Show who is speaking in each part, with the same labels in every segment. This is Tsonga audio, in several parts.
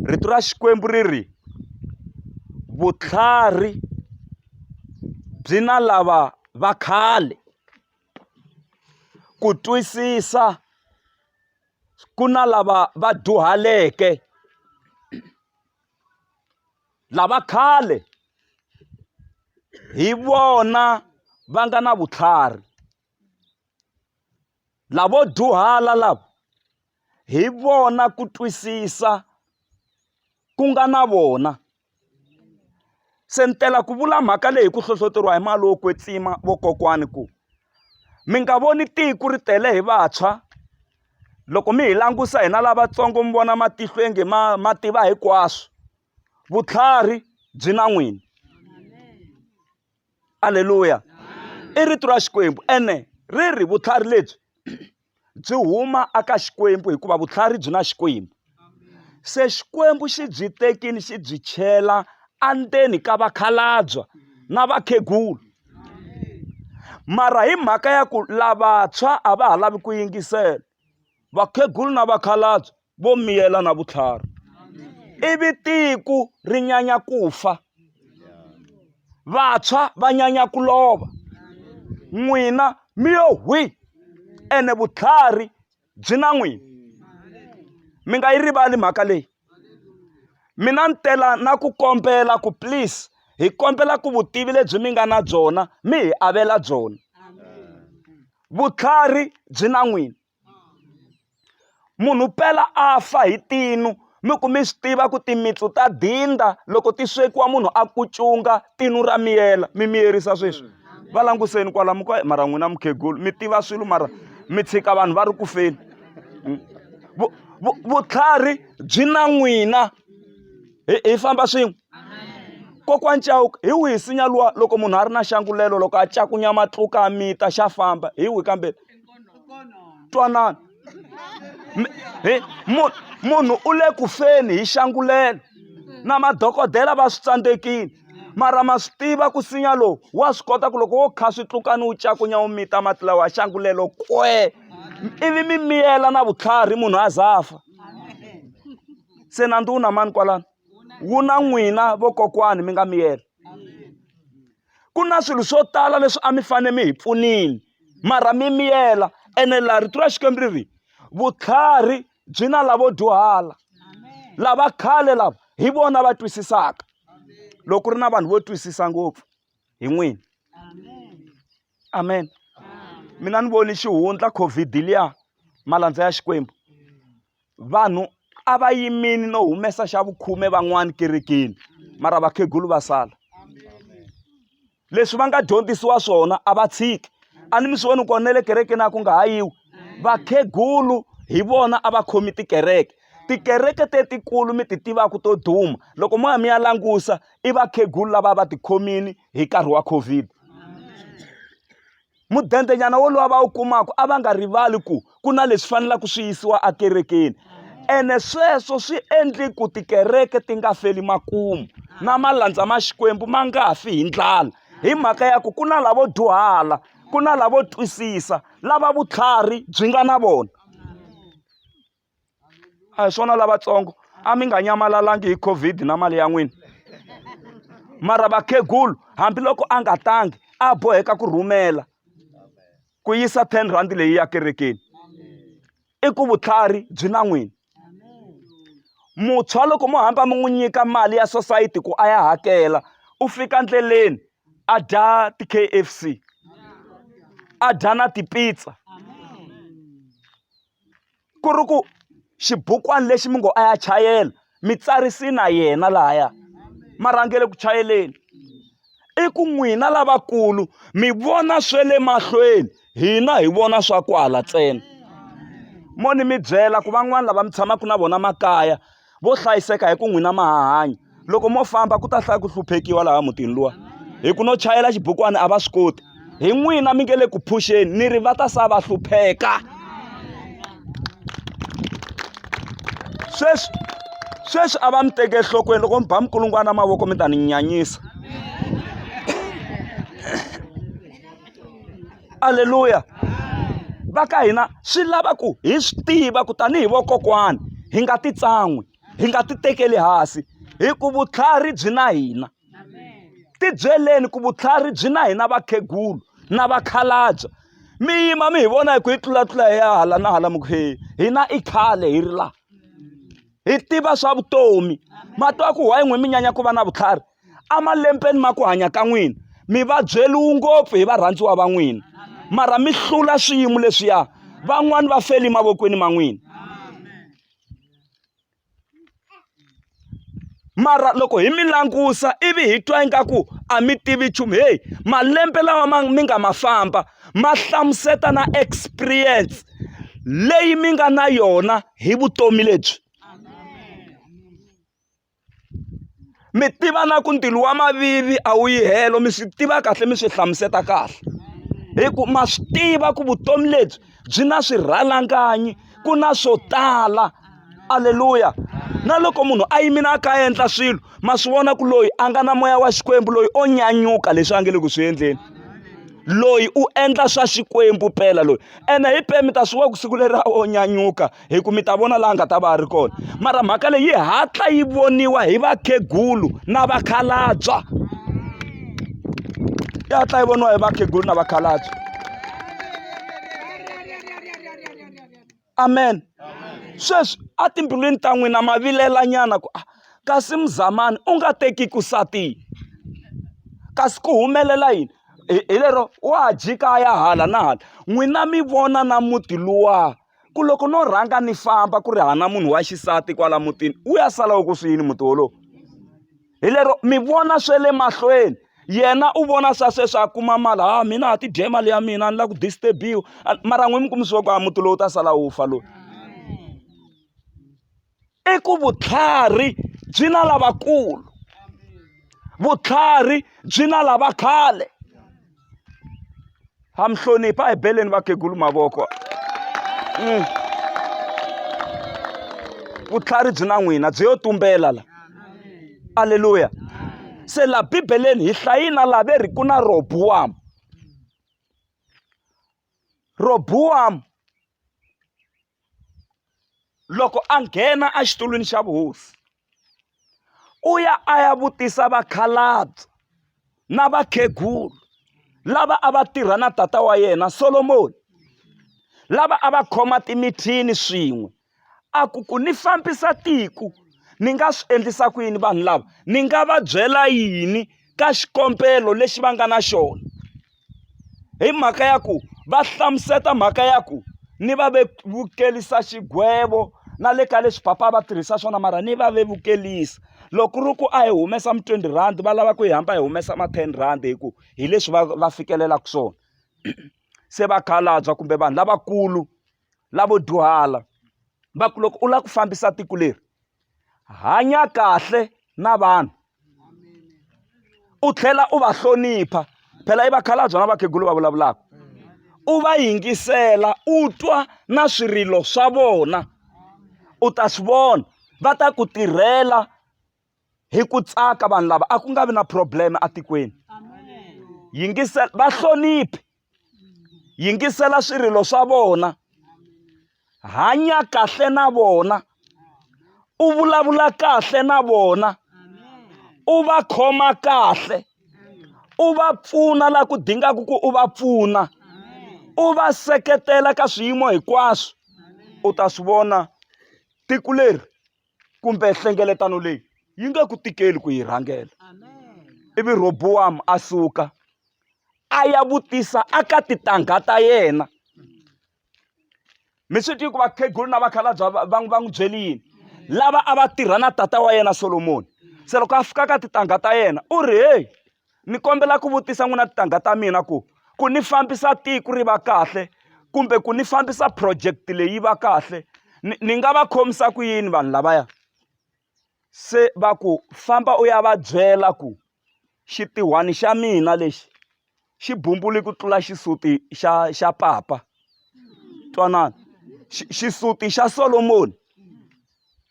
Speaker 1: rito ra xikwembu ri ri vutlhari byi na lava va khale ku twisisa ku na lava va dyuhaleke lava khale hi vona va nga na vutlhari Lavo dyuhala lava hi vona ku twisisa ku nga na vona. Se ni tela ku vula mhaka leyi hi ku hlohloteriwa hi mali wo kwetsima vakokwani ku mi nga voni tiko ri tele hi vantshwa loko mi hi langusa hina lavatsongo mi vona matihlo onge ma ma tiva hinkwaswo vutlhari byi na n'wina. aleluya i rito ra xikwembu ene ri ri vutlhari lebyi byi huma aka xikwembu hikuva vutlhari byi na xikwembu se xikwembu xi byi tekini xi byi chela andzeni ka vakhalabya na vakhegulu mara hi mhaka ya ku lavantshwa a va ha lavi ku yingisela vakhegulu na vakhalabye vo miyela na vutlhari ivi tiko ri nyanya ku fa vantshwa va nyanya ku lova n'wina mi yo hwi ene vutlhari byi na n'wina mi nga yi rivali mhaka leyi mina ni tela na ku kombela ku please hi kombela ku vutivi lebyi mi nga na byona mi hi avela byona vutlhari byi na n'wina munhu pela a fa hi tinu mi ku mi swi tiva ku timitsu ta dinda loko ti swekiwa munhu a kucunga tinu ra miyela mi miyerisa sweswi va languseni kwala mi ku mara n'wina mukhegulu mi tiva swilo mara mi tshika vanhu va ri ku feni hmm. vutlhari byi na n'wina hi famba swin'we kokwani chauka hi wihi sinya luwa loko munhu a ri na xangulelo loko a cakunya matluka a mita xa famba hi wihi kambe twanana munhu munhu u le ku feni hi xangulelo na madokodela va swi tsandzekile mara ma swi tiva ku sinya lowu wa swi kota ku loko wo kha swi tlukani wu cakunya wu mita mati lawa ya xangulelo kwee ivi mi miyela na vutlhari munhu a za fa se nandzu wu na mani kwalano wu na n'wina vokokwani mi nga miyela. ku na swilo swo tala leswi a mi fanele mi hi pfunile mara mi miyela ene laha rito ra xikwembu ri ri vutlhari byi na lavo dyuhala lava khale lava hi vona va twisisaka loko ri na vanhu vo twisisa ngopfu hi n'wini amen mina ni voni xihundla covid liya malandza ya xikwembu vanhu a va yimile no humesa xa vukhume van'wana kerekeni mara vakhegulu va sala leswi va nga dyondzisiwa swona a va tshiki a ni mi swi voni kona na le kerekeni a ku nga ha yiwi vakhegulu hi vona a va khomi tikereke tikereke tetikulu mi ti tivaka to duma loko mo ya mi ya langusa i vakhegulu lava va tikhomini hi nkarhi wa covid mudendenyana wolowo va wu kumaka a va nga rivali ku ku na leswi fanelaka swi yisiwa ekerekeni ene sweswo swi endli ku tikereke ti nga feli makumu na malandza ma xikwembu ma nga fi hi ndlala hi mhaka ya ku ku na lavo dyuhala ku na lavo twisisa lava vutlhari byi nga na vona a hi swona lavatsongo a mi nga nyamalalanga hi covid na mali ya n'wina mara vakhegulu hambiloko a nga tangi a boheka ku rhumela ku yisa ten rand leyi ya kerekeni i ku vutlhari byi na n'wina muntshwa loko mo hamba mi n'wi nyika mali ya sosayiti ku a ya hakela u fika endleleni a dya ti-K_F_C a dya na ti-pizza. ku ri ku xibukwani lexi mi ngo a ya chayela mi tsarise na yena lahaya ma rhangele ku chayeleni i ku n'wina lavakulu mi vona swe le mahlweni hina hi vona swa ku hala ntsena mo ni mi byela ku van'wani lava mi tshamaka na vona makaya vo hlayiseka hi ku n'wina ma ha hanya loko mo famba ku ta hlaya ku hluphekiwa laha mutini luwa hi ku no chayela xibukwana a va swi koti hi n'wina mi nge le ku phuxeni ni ri va ta sa va hlupheka sweswi sweswi a va mi teke enhlokweni loko mi ba mikulungwana mavoko mi ta ni nyanyisa aleluya va ka hina swi lava ku hi swi tiva ku tanihi vokokwani hi nga ti tsan'wi hi nga ti tekeli hansi hi ku vutlhari byi na hina ti byeleni ku vutlhari byi na hina vakhegulu na vakhalabya mi yima mi hi vona hi ku hi tlulatlula hi ya hala na hala mi ku he hina i khale hi ri laha hi tiva swa vutomi matwa ku why n'wi mi nyanya ku va na vutlhari emalembeni ma ku hanya ka n'wina mi va byeliwi ngopfu hi varhandziwa va n'wina mara mi hlula swiyimo leswiya van'wani va feli mavokweni ma n'wina mara loko hi mi langusa ivi hi twa ingaku a mi tivi nchumu heyi malembe lawa ma mi nga ma famba ma hlamuseta na experience leyi mi nga na yona hi vutomi lebyi mi tiva na ku ndzilo wa mavivi a wu yi helo mi swi tiva kahle mi swi hlamusela kahle hi ku ma swi tiva ku vutomi lebyi byi na swirhalanganyi ku na swo tala aleluya na loko munhu a yimile a kha a endla swilo ma swi vona ku loyi a nga na moya wa xikwembu loyi o nyanyuka leswi a nge le ku swi endleni loyi u endla swa xikwembu pela loyi ene hi peni mi ta swi wa ku siku leri a o nyanyuka hi ku mi ta vona laha nga ta va a ri kona mara mhaka leyi yi hatla yi voniwa hi vakhegulu na vakhalabya yi hatla yi voniwa hi vakhegulu na vakhalabya amen sweswi etimbilwini ta n'wina ma vilelanyana ku ah, kasi muzamani u nga teki ku satini kasi ku humelela yini hi lero wa jika ya hala na hala n'wina mi vona na muti luwa ku loko no rhanga ni famba ku ri hana munhu wa xisati kwala mutini wu ya sala wu ku swi yini muti wolowo hi lero mi vona swe le mahlweni yena u vona swa sweswi a kuma mali ha ah, mina ha tidye mali ya mina a ni la ku disturbiwa mara n'wi mi kumisiwa ku a ah, muti lowu ta sala wu fa loyi i ku vutlhari byi na lavakulu vutlhari byi na lava khale ha mi hlonipha hi beleni vakhegulu mavoko mm. vutlhari byi na n'wina byi yo tumbela la aleluya se la bibeleni hi hlayina la ve ri ku na robuwamu robuwamu loko a nghena exitulwini xa vuhosi u ya a ya vutisa vakhalabye na vakhegulu lava a va tirha na tata wa yena Solomoni lava a va khoma timithini swin'we a ku ku ni fambisa tiko ni nga swi endlisa ku yini vanhu lava ni nga va byela yini ka xikombelo lexi va nga na xona. hi mhaka ya ku va hlamuseta mhaka ya ku ni va vevukelisa xigwevo na le ka leswi papa a va tirhisa swona mara ni va vevukelisa loko ku ri ku a hi humesa mi twenty rhandi va lava ku hi hamba hi humesa ma ten rhandi hi ku hi leswi va va fikelelaka swona se vakhalabya kumbe vanhu lavakulu. lavo dyuhala va ku loko u lava ku fambisa tiko leri hanya kahle na vanhu u tlhela u va hlonipha phela i vakhalabya na vakhegulu va vulavulaka u va yingisela u twa na swirilo swa vona u ta swi vona va ta ku tirhela hi ku tsaka vanhu lava a ku nga vi na problem atikweni yingisela va hloniphi yingisela swirilo swa vona hanya kahle na vona u vulavula kahle na vona u va khoma kahle u va pfuna la ku dingaka ku u va pfuna u va seketela ka swiyimo hinkwaswo u ta swi vona tiko leri kumbe nhlengeletano leyi yi nga ku tikeli ku yi rhangela ivi robowamu a suka a ya vutisa aka titangha ta yena mi swi tivi ku vakhegulu na vakhalabya va va n'wi byeli yini lava a va tirha na tata wa yena solomoni se loko a fika ka titangha ta yena u ri heyi ni kombela ku vutisa n'wina tintangha ta mina ku ku ni fambisa tiko ri va kahle kumbe ku ni fambisa project leyi va kahle ni ni nga va khomisa ku yini vanhu lavaya se va ku famba u ya va byela ku xitihwani xa mina lexi xi bumbuli ku tlula xisuti xa xa papa twanana xisuti xa Solomoni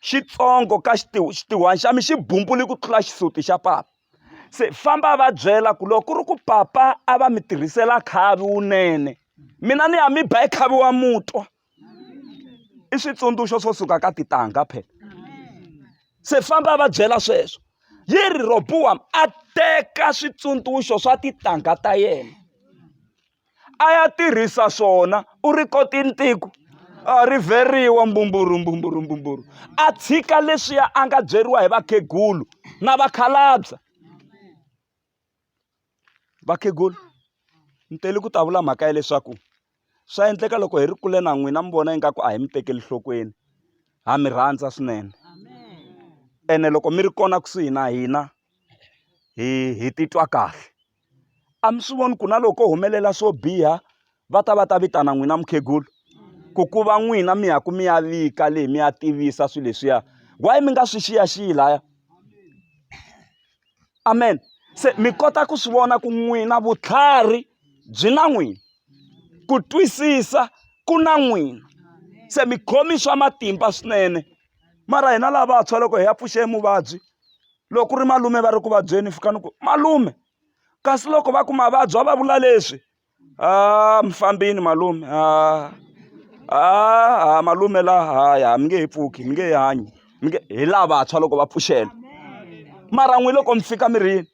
Speaker 1: xitsongo ka xitihwani xa mi xi bumbuli ku tlula xisuti xa papa. se famba a va byela ku loko ku ri ku papa a va mi tirhisela khavi wunene mina ni ya mi ba hi khavi wa mutwa i switsundzuxo swo suka ka titangha phela se famba a va byela sweswo yi ri roboam a teka switsundzuxo swa titangha ta yena a ya tirhisa swona u ri kota intiko a rivheriwa mbumburu mbumburu mbumburu a tshika leswiya a nga byeriwa hi vakhegulu na vakhalabya vakhegulu ni tele ku ta vula mhaka ya leswaku swa endleka loko hi ri kule na n'wina mi vona ingaku a hi mi tekeli nhlokweni ha mi rhandza swinene ene loko mi ri kona kusuhi na hina hi hi titwa kahle a mi swi voni ku na loko ko humelela swo biha va ta va ta vitana n'wina mukhegula ku ku va n'wina mi ya ku mi ya vika leyi mi ya tivisa swilo leswiya why mi nga swi xiyaxiyi laya amen se mi kota ku swi vona ku n'wina vutlhari byi na n'wina ku twisisa ku na n'wina se mi khomi swa matimba swinene mara hina lavantshwa loko hi ya pfuxe muvabyi loko ku ri malume va ri ku vabyeni fika ni ku malume kasi loko va ku mavabyi va va vula leswi ha mi fambini malume ha ha malume la ha ya mi nge he pfuki mi nge he hanyi mi nge hi lavantshwa loko va pfuxela mara n'wina loko mi fika mi ri yini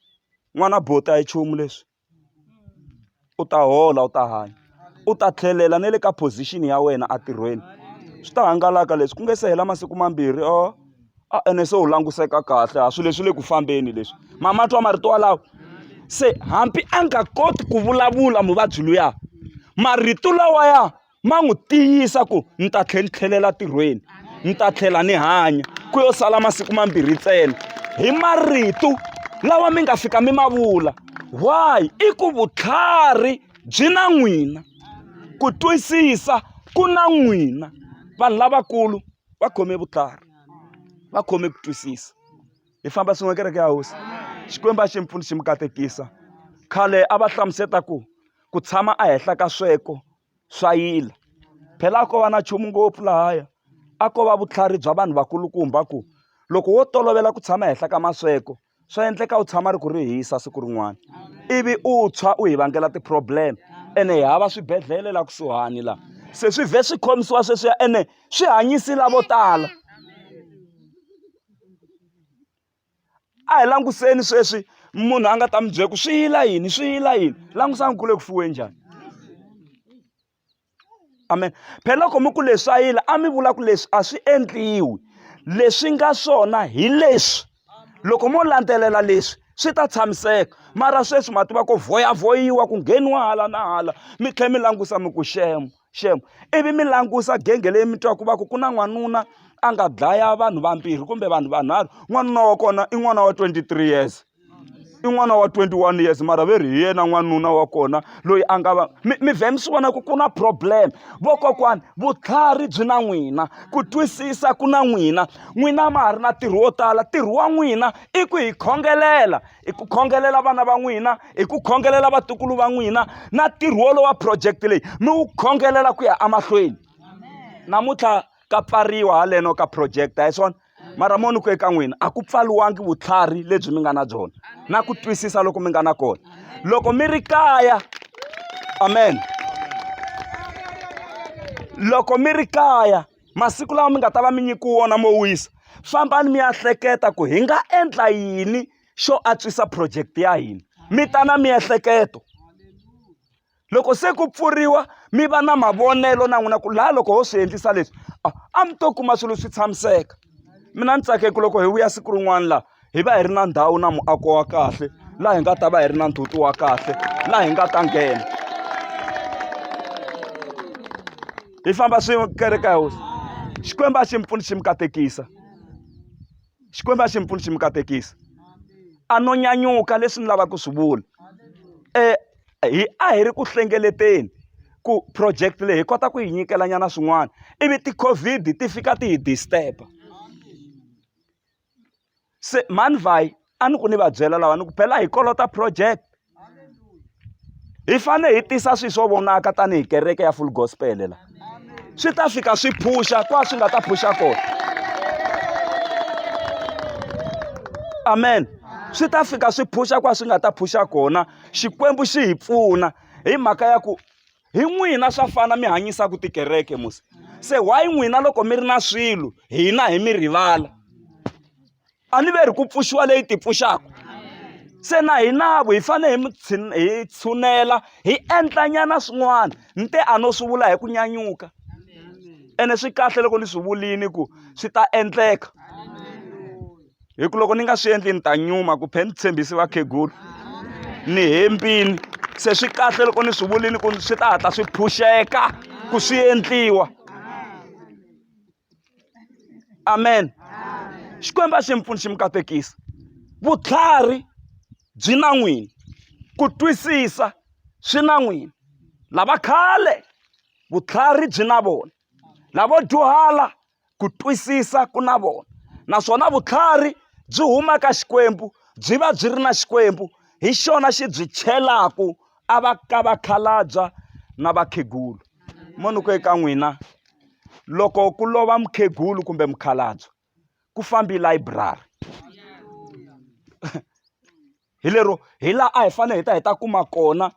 Speaker 1: n'wana boti a hi nchumu leswi. u ta hola u ta hanya u ta tlhelela na le ka position ya wena entirhweni swi ta hangalaka leswi ku nga se hela masiku mambirhi or a ene se u languseka kahle a swilo leswi le ku fambeni leswi ma ma twa marito walawo se hambi a nga koti ku vulavula muvabyi luya marito lawaya. ma n'wi tiyisa ku ni ta tlhela ni tlhelela ntirhweni ni ta tlhela ni hanya ku yo sala masiku mambirhi ntsena hi marito lawa mi nga fika mi ma vula why i ku vutlhari byi na n'wina ku twisisa ku na n'wina vanhu lavakulu va khome vutlhari va khome ku twisisa hi famba swin'we kereke ya hosi xikwembu a xi mi pfuni xi mi katekisa khale a va hlamuseta ku ku tshama ehenhla ka sweko swa yila. Phela a ko va na nchumu ngopfu lahaya. A ko va vutlhari bya vanhu vakulukumba ku, loko wo tolovela ku tshama ehenhla ka masweko, swa endleka u tshama ri ku ri hisa siku rin'wana. Ivi u tshwa u hi vangela ti-problem. Ene hi hava swibedhlele laha kusuhani laha. Se swi vhe swi khomisiwa sweswiya ene swi hanyisi lavo tala. a hi langutiseni sweswi munhu a nga ta mi byela ku swi yila yini swi yila yini langusani ku le ku fuweni njhani amen phela loko mi ku leswi a yila a mi vula ku leswi a swi endliwi leswi nga swona hi leswi loko mo landzelela leswi swi ta tshamiseka mara sweswi ma tiva ku voyavoyiwa ku ngheniwa hala na hala mi tlhela mi langutisa mi ku shema xem ivi mi langusa genge leyi mi twaku va ku ku na n'wanuna a nga dlaya vanhu vambirhi kumbe vanhu vanharhu n'wanuna wa kona i n'wana wa 23 years i n'wana wa 21 years mara ve ri hi yena n'wanuna wa kona loyi a nga va mi mi vhe mi swi vona ku ku na problem vokokwani vutlhari byi na n'wina ku twisisa ku na n'wina n'wina ma ha ri na ntirho wo tala ntirho wa n'wina i ku hi khongelela hi ku khongelela vana va n'wina hi ku khongelela vatukulu va n'wina na ntirho wolowo wa project leyi mi wu khongelela ku ya emahlweni namuntlha ka pfariwa haleno ka project a hi swona mara mo ni ku eka n'wina a ku pfaliwangi vutlhari lebyi mi nga na byona na ku twisisa loko mi nga na kona loko mi ri kaya amen loko mi ri kaya masiku lawa mi nga ta va mi nyikiwe wona mo wisa fambani mi ya hleketa ku hi nga endla yini xo antswisa project ya hina mi ta na miehleketo loko se ku pfuriwa mi va na mavonelo na n'wina ku laha loko ho swi endlisa leswi a mi to kuma swilo swi tshamiseka mina ni tsakeke loko hi vuya siku rin'wana laha hi va hi ri na ndhawu na muako wa kahle laha hi nga ta va hi ri na ndzhuti wa kahle laha hi nga ta nghena hi famba swin'we kereke ya hosi xikwembu a xi mi pfuni xi mi katekisa xikwembu a xi mi pfuni xi mi katekisa a no nyanyuka leswi ni lavaka ku swi vula um hi a hi ri ku hlengeleteni ku project leyi hi kota ku yi nyikelanyana swin'wana ivi ti-covid ti fika ti hi disturb-a se mani vhayi a ni ku ni va byela lawa ni ku phela hi kolota project hi fane hi tisa swi swo vonaka tanihi kereke ya full gospel la swi ta fika swi phuxa kwa swi nga ta phuxa kona amen swi ta fika swi phuxa kwa swi nga ta phuxa kona xikwembu xi hi pfuna hi mhaka ya ku hi n'wina swa fana mi hanyisaka tikereke mos se why n'wina loko mi ri na swilo hina hi mi rivala a ni ve ri ku pfuxiwa leyi ti pfuxaka se na hinavo hi fanele hi hi tshunela hi endlanyana swin'wana ni te a no swi vula hi ku nyanyuka ene swi kahle loko ni swi vulini ku swi ta endleka hi ku loko ni nga swi endli ni ta nyuma ku phela ni tshembisi vakhegula ni hembini se swi kahle loko ni swi vulini ku swi ta hatla swi phuxeka ku swi endliwa amen xikwembu a xi mi pfuni xi mi katekisa vutlhari byi na n'wini ku twisisa swi na n'wini lava khale vutlhari byi na vona lavo dyuhala ku twisisa ku na vona naswona vutlhari byi huma ka xikwembu byi va byi ri na xikwembu hi xona xi byi chelaku a va ka vakhalabya na vakhegulu mo ni ku eka n'wina loko ku lova mukhegulu kumbe mukhalabye ku fambi layiburari hi lero hi laha a hi fanele hi ta hi ta kuma kona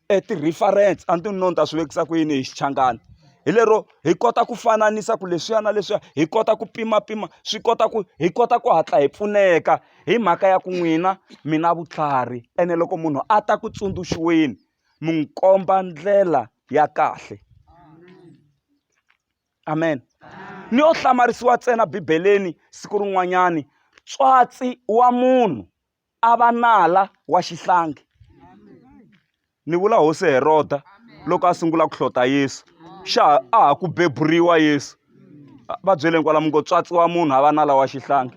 Speaker 1: e ti-reference a ni ti no ni ta swi vekisa ku yini hi xichangani hi lero hi kota ku fananisa ku leswiya na leswiya hi kota ku pimapima swi kota ku hi kota ku hatla hi pfuneka hi mhaka ya ku n'wina mi na vutlhari ene loko munhu a ta ku tsundzuxiweni mi n'wi komba ndlela ya kahle amen ni yo hlamarisiwa ntsena bibeleni siku rin'wanyani tswatsi wa munhu a va nala wa xihlangi ni vula hosi heroda loko a sungula ku hlota yesu xa ha- a ha ku beburiwa yesu A- va byeleni kwalamu ngo tswatsiwa munhu a va nala wa xihlangi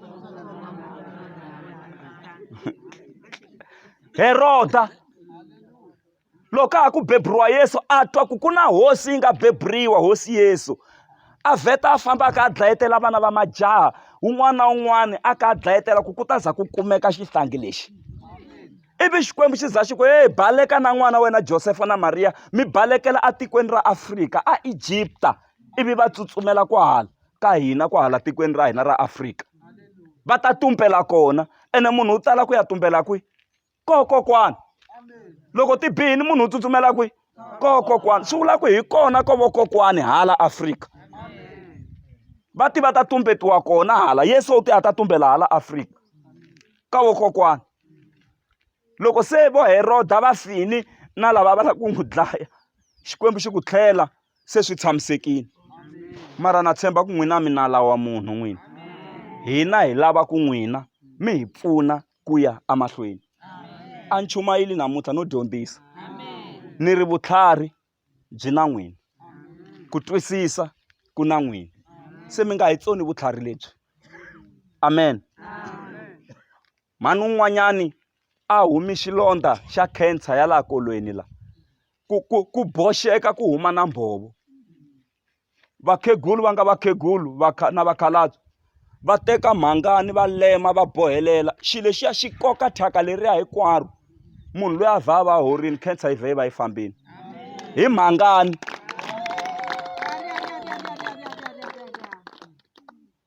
Speaker 1: heroda loko ka ha ku beburiwa yesu a twa ku ku na hosi yi nga beburiwa hosi yesu a vheta a famba a kha a dlayetela vana va majaha un'wana na un'wana a kha a dlayetela ku ku ta za ku kumeka xihlangi lexi ivi xikwembu xi za xi ku heyi baleka na n'wana wena josefa na mariya mi balekela etikweni ra afrika a egipta ivi va tsutsumela kwahala ka hina kwahala tikweni ra hina ra afrika va ta tumbela kona ene munhu u tala ku ya tumbela kwihi koho kokwana loko ti bihini munhu u tsutsumela kwihi koho kokwana swi vula ku hi kona ko vokokwani hala afrika va ti va ta tumbetiwa kona hala yesu u ti a ta tumbela hala afrika ka vokokwani loko se vo heroda va fini na lava va lava ku n'wi dlaya xikwembu xi ku tlhela se swi tshamisekile mara na tshemba ku n'wina mi nala wa munhu n'wina hina hi lava ku n'wina mi hi pfuna ku ya emahlweni a ni chumayeli namuntlha no dyondzisa ni ri vutlhari byi na n'wina ku twisisa ku na n'wina se mi nga hi tsoni vutlhari lebyi amen mhani un'wanyani a humi xilondza xa cancer ya laha kolweni la ku ku ku boxeka ku huma na mbhovo vakhegulu va nga vakhegulu na vakhalabye va teka mhangani va lema va bohelela xilo lexiya xi koka thyaka leriya hinkwaro munhu loyi a vha a va horini cancer yi vhe yi va yi fambile hi mhangani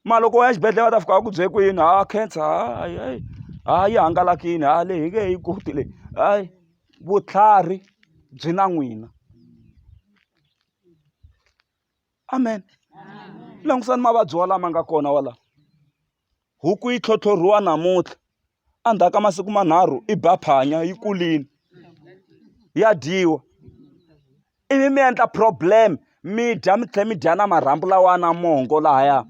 Speaker 1: ma loko u ya xibedhlele va ta fika va ku bye ku yini ha cancer hayi hayi ha yi hangalakini ha leyi hi nge yi koti leyi hayi vutlhari byi na n'wina amen langusani mavabyi wa lama nga kona wa la huku yi tlhotlhoriwa namuntlha endzhaku ka masiku manharhu i ba phanya yi kulini ya dyiwa ivi mi endla problem mi dya mi tlhela mi dya na marhambu lawa na mongo lahaya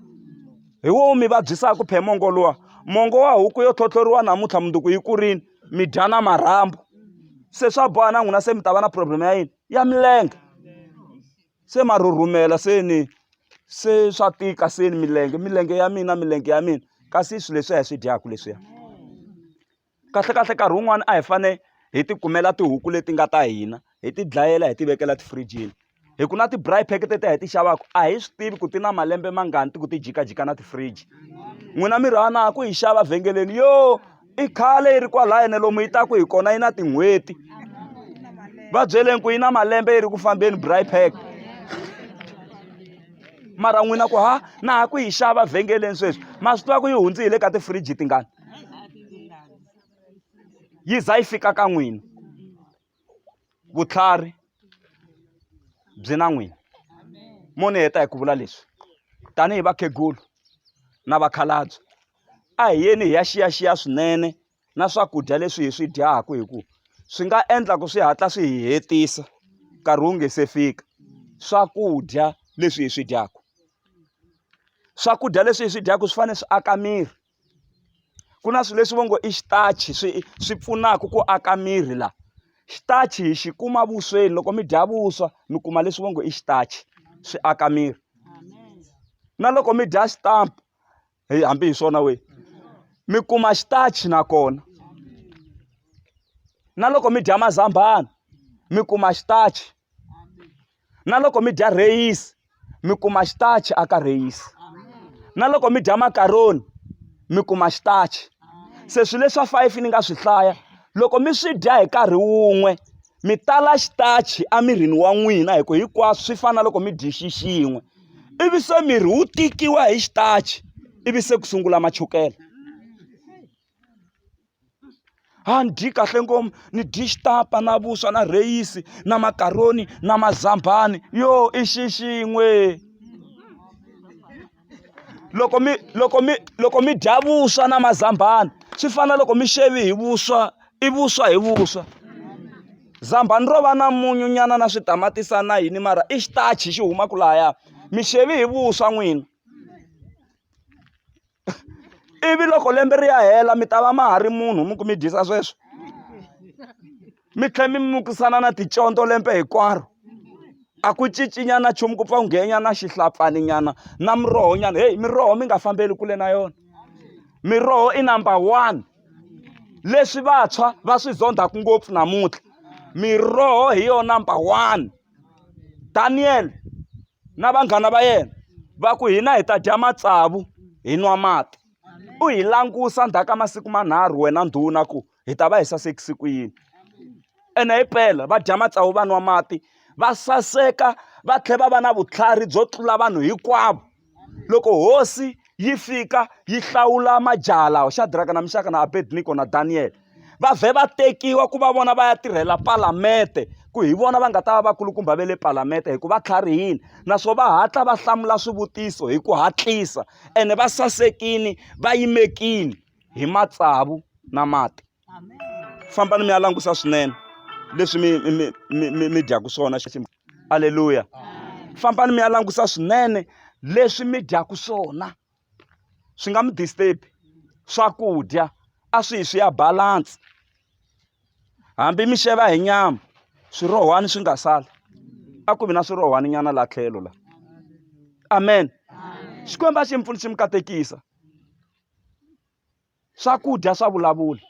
Speaker 1: hi wo mi vabyisaka phela mongo luwa mongo wa huku yo tlhotlhoriwa namuntlha mundzuku yi kurile mi dya na marhambu se swa boha na n'wina se mi ta va na problem ya yini. ya milenge se ma rhurhumela se ni se swa tika se ni milenge milenge ya mina milenge ya mina kasi swilo leswi hi swi dyaku leswiya kahlekahle nkarhi wun'wani a hi fane hi ti kumela tihuku leti nga ta hina hi ti dlayela hi ti vekela tifirijini hi ku na ti-braai pack teti a hi ti xavaku a hi swi tivi ku ti na malembe mangani ti ku ti jikajika na ti-fridge n'wina mi rhana ku yi xava vhengeleni yo i khale yi ri kwalaya ne lomu yi taku hi kona yi na tin'hweti va byeleni ku yi na malembe yi ri ku fambeni braai pack mara n'wina ku ha na ha ku yi xava vhengeleni sweswi ma swi tiva ku yi hundzi hi le ka tifiriji tingani yi za yi fika ka n'wina vutlhari byi na n'wini mo ni heta hi ku vula leswi tanihi vakhegulu na vakhalabye a hi yeni hi ya xiyaxiya swinene na swakudya leswi hi swi dyaku hi ku swi nga endla ku swi hatla swi hi hetisa nkarhi wu nge se fika swakudya leswi hi swi dyaku swakudya leswi hi swi dyaku swi fanele swi aka miri ku na swilo leswi va ngo i xitachi swi swi pfunaka ku aka miri la xitachi hi xi kuma vusweni loko mi dya vuswa mi kuma leswi va ngo i xitachi swi aka miri na loko mi dya xitampa hi hambi hi swona we mi kuma xitachi nakona na loko mi dya mazambhana mi kuma xitachi na loko mi dya rheyisi mi kuma xitachi aka rheyisi na loko mi dya makaroni mi kuma xitachi se swilo leswa five ni nga swi hlaya loko mi swi dya hi nkarhi wun'we mi tala xitachi emirini wa n'wina hi ku hinkwaswo swi fana na loko mi dyi xixin'we ivi se miri wu tikiwa hi xitachi ivi se ku sungula machukele a ni dyi kahle ngopfu ni dyi xitapa na vuswa na rheyisi na makaroni na mazambhani yo i xi xin'we loko mi loko mi loko mi dya vuswa na mazambhana swi fana na loko mi xave hi vuswa i vuswa hi vuswa zambhana ro va na munyu nyana na switamatisi na yini mara i xitachi xi humaka lahaya mi xave hi vuswa n'wini. ivi loko lembe ri ya hela mi ta va ma ha ri munhu mi ku mi dyisa sweswo mi tlhela mi mukisana na ticondzo lembe hinkwaro a ku cincinyana nchumu ku pfa ku nghenyana xihlapfani nyana na muroho nyana heyi miroho mi nga fambeli kule na yona miroho i number one leswi vantshwa va swi zondzaka ngopfu namuntlha miroho hi yona number one daniel na vanghana va yena va ku hina hi ta dya matsavu hi nwa mati u hi langusa ndzhaku ka masiku manharhu wena ndhuna ku hi ta va hi sasekise ku yini ene hi pela va dya matsavu va nwa mati va saseka va tlhela va va na vutlhari byo tlula vanhu hinkwavo loko hosi yi fika yi hlawula majaha lawa xadiraka na mixaka na abednego na daniyele va vhe va tekiwa ku va vona va ya tirhela palamende ku hi vona va nga ta va vakulukumba va le palamende hi ku va tlharihile naswona va hatla va hlamula swivutiso hi ku hatlisa ene va sasekile va yimekile hi matsavu na mati fambani mi ya langusa swinene leswi mi mi mi mi mi dyaku swona xiximo aleluya fambani mi ya langusa swinene leswi mi dyaku swona swi nga mi disturb swakudya a swi hi swi ya balance hambi mi xava hi nyama swirohwani swi nga sala a ku vi na swirohwani nyana la tlhelo la amen xikwembu a xi mi pfuni xi mi katekisa swakudya swa vulavula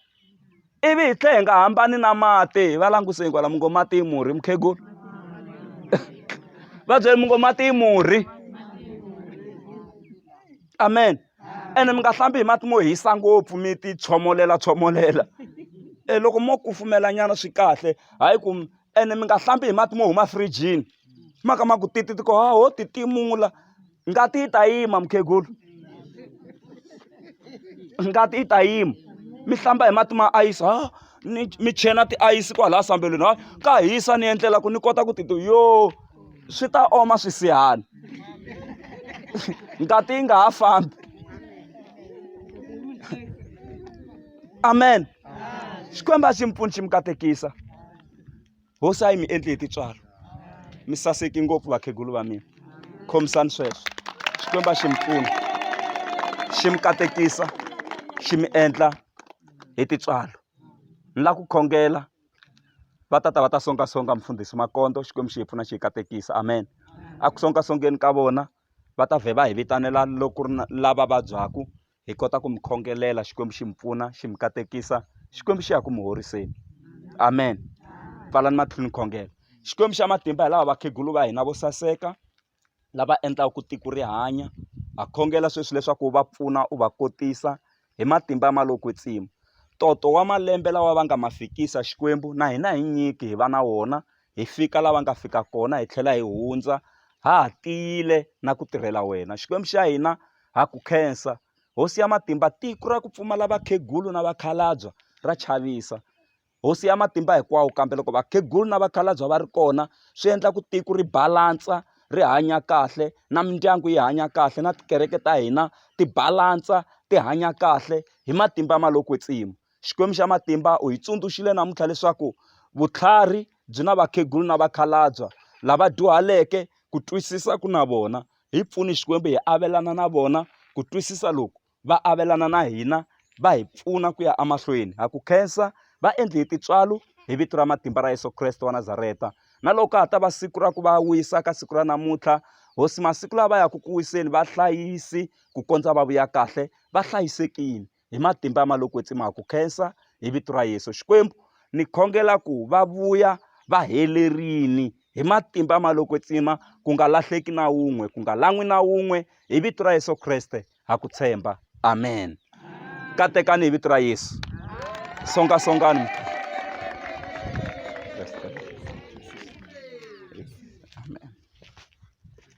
Speaker 1: ivi hi tlhe hi nga hambani na mati va languseni kwala mi ngo mati i murhi mukhegulu va byele mi ngo mati i murhi amen ene mi nga hlambi hi mati mo hisa ngopfu mi ti tshomolela tshomolela e loko mo kufumela nyana swi kahle hayi ku ene mi nga hlambi hi mati mo huma firijini ma ka ma ku titi ti ko ha ho ti timula ngati yi ta yima mukhegulu ngati yi ta yima mi hlamba hi mati ma ayisi ha ni mi chena tiayisi kwalaya sambelweni ha ka hisa ni endlela ku ni kota ku titi yo swi ta oma swisihala ngati yi nga ha fambi amen xikwembu a xi mi pfuni xi mi katekisa hosi a yi mi endli hi titswalo mi saseki ngopfu vakhegulu va mina khomisani sweswo xikwembu a xi mi pfuni xi mi katekisa xi mi endla hi titswalo ni la ku khongela va tata va ta songasonga mfundhisi makondo xikwembu xi hi pfuna xi hi katekisa amen a ku songasongeni ka vona va ta vhe va hi vitanela loko ri lava vabyaku hi kota ku mi khongelela xikwembu xi mi pfuna xi mi katekisa xikwembu xi ya ku mi horiseni amen pfalani matlhini khongela xikwembu xa matimba hi lava vakhegulu va hina vo saseka lava endlaka ku tiko ri hanya ha khongela sweswi leswaku u va pfuna u va kotisa hi matimba ma lo kwetsima toto wa malembe lawa va nga ma fikisa xikwembu na hina hi nyiki hi va na wona hi fika lava nga fika kona hi tlhela hi hundza ha ha tiyile na ku tirhela wena xikwembu xa hina ha ku khensa hosi ya matimba tiko ra ku pfumala vakhegulu na vakhalabya ra chavisa hosi ya matimba hinkwawo kambe loko vakhegulu na vakhalabya va ri kona swi endla ku tiko ri balantsa ri hanya kahle na mindyangu yi hanya kahle na tikereke ta hina ti balantsa ti hanya kahle hi matimba ma lo kwetsima Xikwembu xa matimba u hi tsundzuxile namuntlha leswaku vutlhari byi na vakhegulu na vakhalabya lava dyuhaleke ku twisisa ku na vona hi pfuni xikwembu hi avelana na vona ku twisisa loku va avelana na hina va hi pfuna ku ya emahlweni ha ku khensa va endli hi tintswalo hi vito ra matimba ra yesu kreste wa nazareta na loko ka ha ta va siku ra ku va wisa ka siku ra namuntlha hosi masiku lawa va yaka ku wiseni vahlayisi ku kondza va vuya kahle va hlayisekile hi matimba ya maloko kwetsima ku khensa hi vito ra yesu xikwembu ni khongela ku va vuya va helerini hi matimba ma loko tsima ku nga lahleki na wun'we ku nga lan'wi na wun'we hi vito ra yesu kreste ha ku tshemba amen katekani hi vito ra yesu songasongani